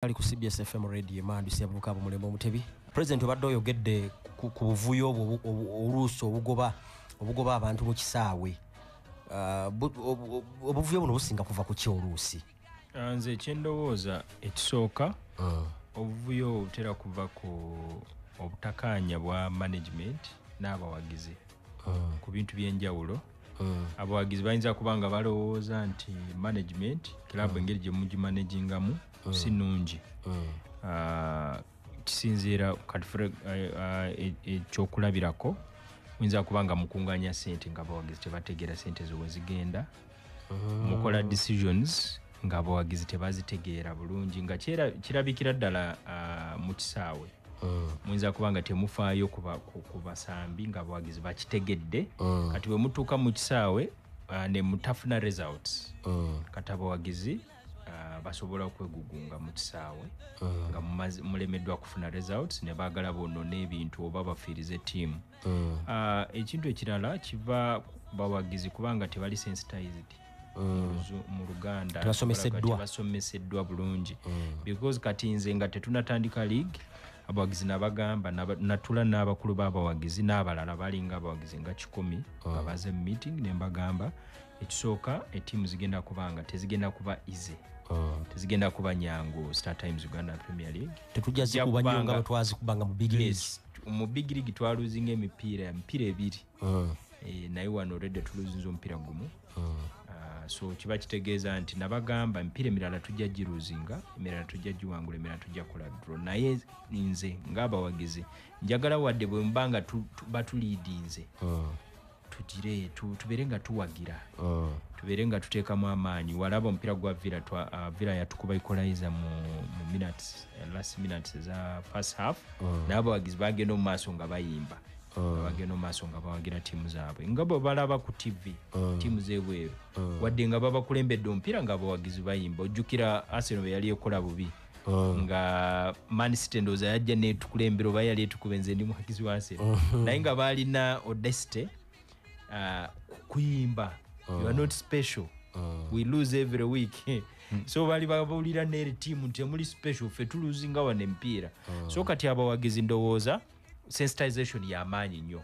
ali ku cbs fm radio emandu sebuka abo mulembe omutebi president obadde oyogedde ku buvuyo obwo oluusi obugoba obugoba abantu mu kisaawe uh, obuvuyo buno businga kuva ku ki oluusi uh, nze ekyendowooza ekisooka uh. obuvuyo obutera kuva ku obutakaanya bwa management n'abawagizi ku bintu by'enjawulo Mm. abawagizi bayinza kuba nga balowooza nti management club mm. engeri gyemugimanagingamu mm. si nungi ah, kisinziira katifre eh, ah, e, ekyokulabirako muyinza kuba nga mukunganya sente nga abawagizi tebategeera sente zowezigenda mukola decisions ng'abawagizi tebazitegeera bulungi nga kirabikira ddala uh, mu kisaawe mm. muyinza kuba nga temufaayo ku basambi ng'abawagizi bakitegedde mm. kati bwe mutuuka mu kisaawe uh, ne mutafuna results mm. kati abawagizi uh, basobola okwegugunga mu kisaawe mm. nga mulemeddwa kufuna results ne baagala boonona ebintu oba bafiirize tiimu mm. mm. uh, ekintu ekirala kiva bawagizi kubanga tebali sensitized mm. mu luganda tebasomeseddwa bulungi mm. because kati nze nga tetunatandika league abawagizi nabagamba natula n'abakulu b'abawagizi n'abalala balinga abawagizi nga kikumi nga mm. baze mu meeting ne mbagamba ekisooka etiimu zigenda kuba nga tezigenda kuba ize oh. tezigenda kuba nyangu star times uganda premier league tetujja zikuba nyo nga bwetwazikuba nga mu big league mu big league twaluzinga emipiira emipiira ebiri hmm. eh, naye wano olredde tuluzinza omupiira gumu hmm. ah, so kiba kitegeeza nti nabagamba emipiira emirala tujja giruzinga emirala tujja giwangula emirala tujja kola dro naye nze ngaabawagizi njagala wadde bwemubanga batuliidinze hmm. tugire tu, tubeere nga tuwagira mm. tubeere nga tuteekamu amaanyi walaba omupiira gwa villa uh, villa yatukuba ekolaiza mu, mu minutes uh, last minutes eza first half mm. naye abawagizi bagenda omu maaso nga bayimba mm. bagenda omu maaso nga bawagira tiimu zaabwe nga bwe balaba ku tv mm. tiimu z'ebweru mm. wadde nga babakulembedde omupiira nga abawagizi bayimba ojjukira aseno bwe yali ekola bubi Oh. nga manisite ndowooza yajja netukulembera oba yali etukuba enze ndi muhakizi wansi oh. naye nga baalina odesite uh, kuyimba oh. you are not special we lose every week hmm. so bali babulira neri timu nti emuli special fe tuluzinga wano empiira so kati abawagizi ndowooza sensitization yamaanyi nnyo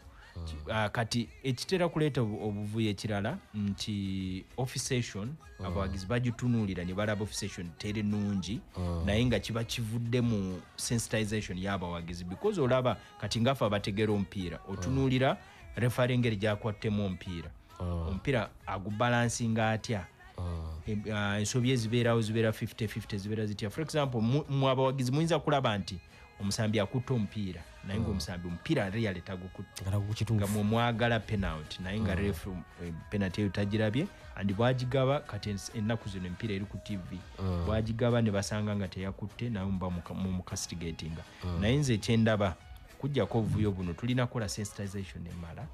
Uh, kati ekitera kuleeta obuvuyo ekirala nti officession mm. abawagizi bagitunuulira ne balaba officession teri nungi mm. naye nga kiba kivudde mu sensitization y'abawagizi because olaba kati ngafe abategeera omupiira otunuulira mm. refari engeri gyakwattemu omupiira omupiira agubalansinga atya ensobi ezibeerawo zibeera 5050 zibeera zitya for example mu abawagizi muyinza kulaba nti mm. omusambi akutte omupiira naye nga mm. omusambi omupiira real tagukuttega mwemwagala penalty naye nga mm. ref eh, penalty eyo tagirabye and bwagigaba kati ennaku zino emipiira eri ku tv mm. bwagigaba ne basanga nga teyakutte naye muba mumukastigatinga naye nze ekyendaba kujjako obuvuyo buno tulina kukola sensitization emala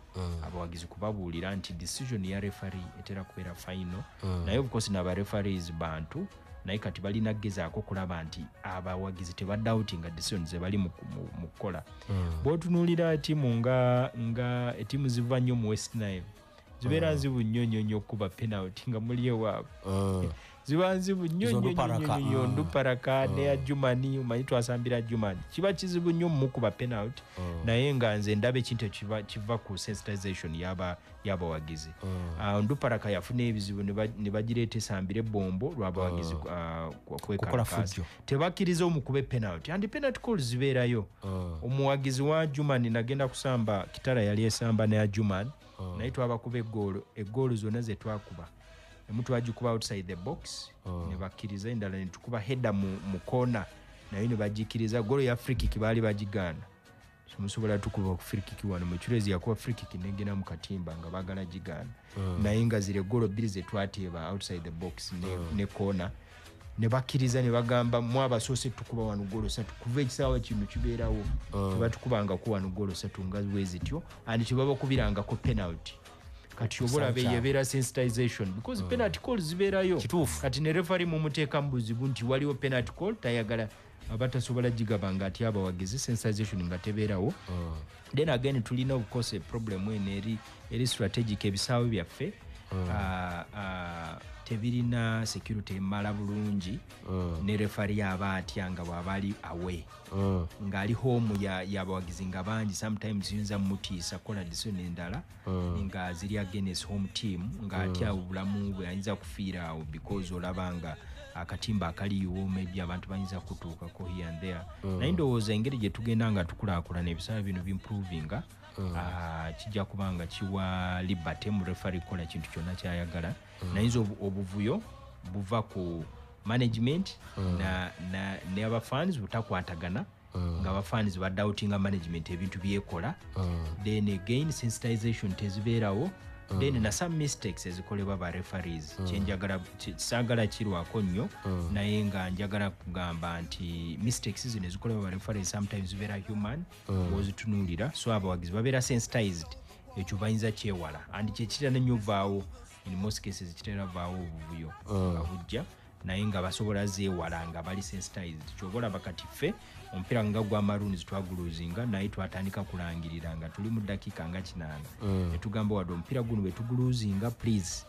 abawagizi kubabuulira nti decision ya refari etera kubeera final naye obukosi nabarefaris bantu naye kati balina kugezaako okulaba nti abawagizi tebadawuti nga decision zebali mu kukola hmm. bwotunuulira tiimu nga nga etiimu ziva nnyo mu west nile zibeera hmm. nzibu nnyo nnyo nnyo okukuba penalty nga muli ewaabwe hmm. ziba nzibu nnyo nnyo nduparaka neya jumani omanyi twasambira jumani kiba kizibu nnyo mumukuba penalty naye nga nze ndaba ekintu ekiva ku sensitization yaba yabawagizi oh. ah, nduparaka yafuna ebizibu ne bagireeta esambire bombo lwabawagizi oh. ah, kwekalakaasa tebakkiriza omukube penalty andi penalty call zibeerayo oh. omuwagizi wa juman nagenda kusamba kitara yali esamba neya juman naye twabakuba egoolo egoolo zonna zetwakuba emu twagikuba outside the box nebakkiriza endala netukuba hedda mu kona naye nebagikiriza goolo ya frikiki baali bagigaana musobola tukuba ku frikiki wano mucurezi yakuba frikiki negena mu katimba nga bagala gigaana mm. naye nga zire golo bbiri zetwateeba outside the box ne, mm. ne kona nebakkiriza nebagamba mu abasoose tukuba wano golo satu kuva ekisaawa kino kibeerawo mm. tebatukubangako wano golo satu nga wezityo and tebabakubirangako penalty kati obolaba eyebeera sensitization because mm. penalty call zibeerayo kati ne refari mumuteekamu buzibu nti waliwo penalty call tayagala abatasobola gigaba nga atya abawagizi sensization nga tebeerawo oh. then again tulina obukosa eproblemu eno eri eri strategic ebisaawe byaffe oh. ah, ah, tebirina security emala bulungi oh. ne refari aba atya nga bwaba ali awe ngaali home yabawagizi nga bangi sometimes yinza mutiisa kola disoni endala mm. nga ziri against home team nga mm. atya obulamu bwe ayinza kufiira awo because olaba nga akatimba akaliwo maybe abantu bayinza kutuukako here and there mm. naye ndowooza engeri gye tugenda nga tukulaakulana ebisaala bino bimprovinga mm. ah, kijja kuba nga kiwa liberty mu refari kukola kintu kyonna kyayagala mm. nayinza obuvuyo buva ku management mm. na, na, ne abafans butakwatagana mm. nga bafans badoutinga management ebintu byekola mm. then again sensitization tezibeerawo mm. then na some mistakes ezikolebwa ba referees mm. kyenjagala sagala kirwako nnyo mm. naye nga njagala kugamba nti mistakes zino ezikolebwa ba referees sometimes zibeera human mm. ozitunuulira so abawagizi babeera sensitized ekyo bayinza kyewala and kyekitera nenyo vaawo in most cases kitera vaawo obuvuyo nga mm. bujja mm. naye nga basobola zeewala nga bali sensitized kyoba olaba kati ffe omupiira nga gwa maroons twaguluzinga naye twatandika kulangirira nga tuli mu dakiika nga kinaana mm. netugamba wadde omupiira guno wetuguluzinga please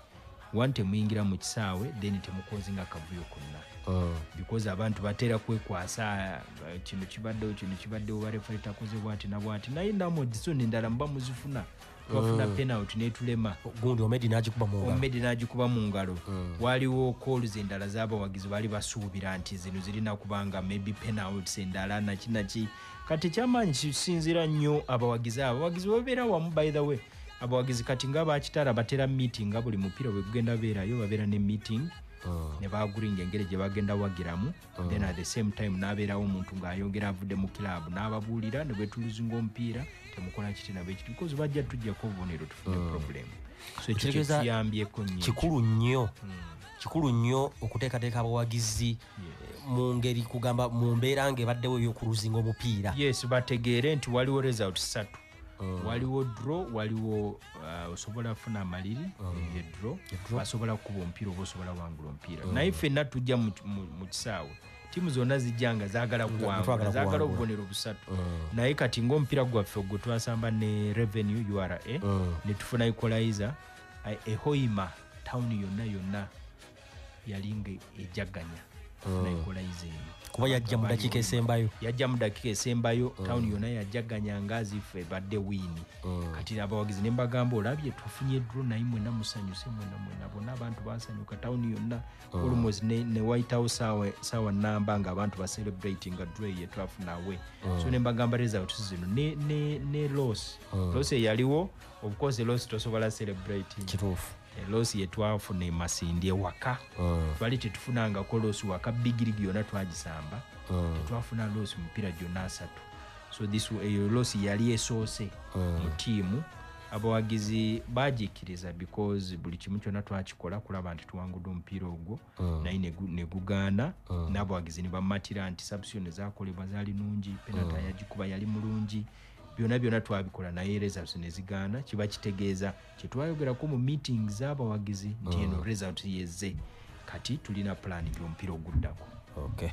one temuyingira mu kisaawe then temukozinga kavuyo konna mm. because abantu batera kwekwasa eh, kino kibaddewo kino kibaddewo barefale takozebwati nabwati naye namodiso nendala muba muzifuna twafuna mm. penalty netulema gundi omedi nagikuba mu ngalo omedi nagikuba mu ngalo mm. waliwo calls endala zabawagizi bali basuubira nti zino zirina kubanga maybe penalties endala naki naki kati kyamaanyi kisinzira nnyo abawagizi abo abawagizi babeera wamu by the way abawagizi kati nga bakitara batera meeting nga buli mupiira bwegugenda beerayo babeera ne meeting mm. ne baguringa engeri gye bagenda wagiramu mm. then at the same time nabeerawo omuntu ng'ayongera avudde mu club n'ababuulira ne bwetuluzinga omupiira temukola kiti nabo ekitu because bajja tujjako obubonero tufune mm. problem so ekyo kyekiyambyeko nyo kikulu nnyo mm. kikulu nnyo okuteekateeka abawagizi yeah. mu ngeri kugamba mu mbeera nga ebaddewo ey'okuluzinga omupiira yes bategeere nti waliwo result satu Mm. waliwo dro waliwo uh, osobola afuna amaliri mm. edro asobola kukuba omupiira oba osobola wangula omupiira mm. naye fenna tujja mu kisaawe tiimu zonna zijja nga zagala kuwangula zagala obubonero busatu naye kati ngaomupiira gwaffe ogwo twasamba ne revenue ura netufuna equalizer ehoima tawuni yonna yonna yali nga ejaganya mm. naenkola ize eyo kuba yajja mu dakiika esembayo yajja mu dakiika esembayo mm. tawuni yona yajaganya nga azife badde wiini mm. kati abawagizi ne mbagamba olabye tufunye dro naye mwena musanyuse mwena mwena bona abantu basanyuka tawuni yonna olmost ne white house saawa namba nga abantu bacelebrati nga dro eye twafunawe so ne mbagamba results zino ne loss loss eyaliwo obcourse loss tosobola celebrati kituufu losi yetwafuna emasindi ewaka mm. twali tetufunangako losi waka bigirigi yona twagisamba mm. tetwafuna losi mupira gyona asatu so this eyo losi yali esoose mm. mu tiimu abawagizi bagikkiriza because buli kimu kyona twakikola kulaba nti tuwangude omupiira ogwo mm. naye negugaana mm. n'abawagizi nebamatira nti sabusiyoni zakolebwa zali nungi penata mm. yagikuba yali mulungi byona byona twabikola naye results nezigaana kiba kitegeeza kyetwayogerako mu meeting zabawagizi nti eno mm. result yeze kati tulina plan yomupiira oguddako okay.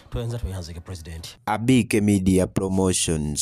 tuyanza tweyanzike president abike media promotions